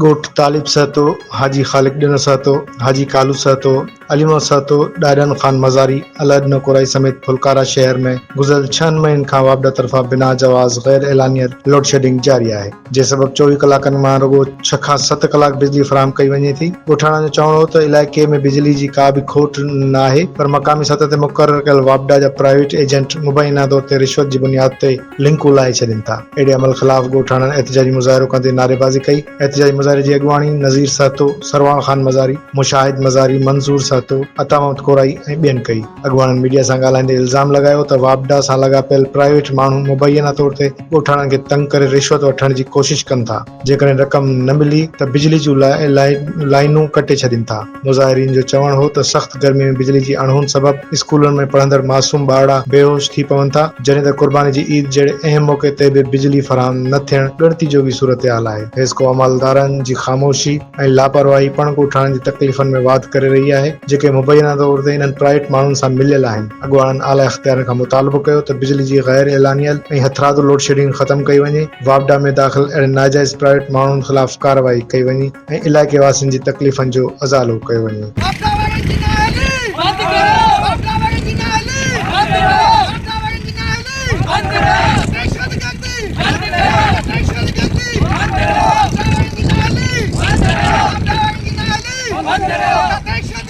ڳوٺ طالب سهتو، حاجي خالق ڏنر سهتو، حاجي ڪالو سهتو، علي محمد سهتو، ڏاڏن خان مزاري، الهڏ نڪورائي سميت ڦلڪارا شهر ۾ گذريل ڇهن مهين کان واپڊا طرفان بنا جواز غير اعلانيه لوڊشيڊنگ جاري آهي جنهن سبب چوويهه ڪلاڪن مان رڳو ڇهه کان ست ڪلاڪ بجلي فراهم ڪئي وڃي ٿي. ڳوٺاڻن جو چوڻ هو ته علائقي ۾ بجلي جي ڪا به کوٽ ناهي پر مقامي سطح تي مقرر ڪيل واپڊا جا پرائيويٽ ايجنٽ مبينا طور تي رشوت جي بنياد تي لنڪون لاهي ڇڏين ٿا. اهڙي عمل خلاف ڳوٺاڻن احتجاجي مظاهرو ڪندي نعريبازي ڪئي. احتجاجي مظاهري جي اڳواڻي نذير سهتو، سرواڻ خان مزاري، مشاهد مزاري، منظور سهتو، عطا محمد ڪورائي ۽ ٻين ڪئي. اڳواڻن ميڊيا سان ڳالهائيندي الزام لڳايو ته واپڊا سان لاڳاپيل پرائيويٽ ماڻهو مبينا طور تي ڳوٺاڻن کي تنگ ڪري رشوت وٺڻ جي ڪوشش ڪن ٿا. جيڪڏهن رقم نه ملي ته بجلي جون لائينون ڪٽي ڇڏين ٿا، مظاهرين جو چوڻ هو ته سخت گرمي ۾ بجلي جي اڻهوند سبب اسڪولن ۾ پڙهندڙ معصوم ٻارڙا بيهوش ٿي پون ٿا، جڏهن ته قرباني جي عيد جهڙي اهم موقعي تي به بجلي فراهم نه ٿيڻ ڳڻتي جوڳي صورتحال آهي، حيسڪو عملدارن جي خاموشي ۽ لاپرواهي پڻ ڳوٺاڻن جي تڪليفن ۾ واڌ ڪري رهي آهي، جيڪي مبينا طور تي انهن پرائيويٽ ماڻهن سان مليل آهن، اڳواڻن اعليٰ اختيارين کان مطالبو ڪيو ته بجلي جي غير اعلانيل ۽ هٿرادو لوڊشيڊنگ ختم ڪئي وڃي. واپڊا ۾ داخل اهڙن ناجائز پرائيويٽ ماڻهن خلاف ڪارروائي ڪئي وڃي ۽ علائقي واسين جي تڪليفن جو ازالو ڪيو وڃي.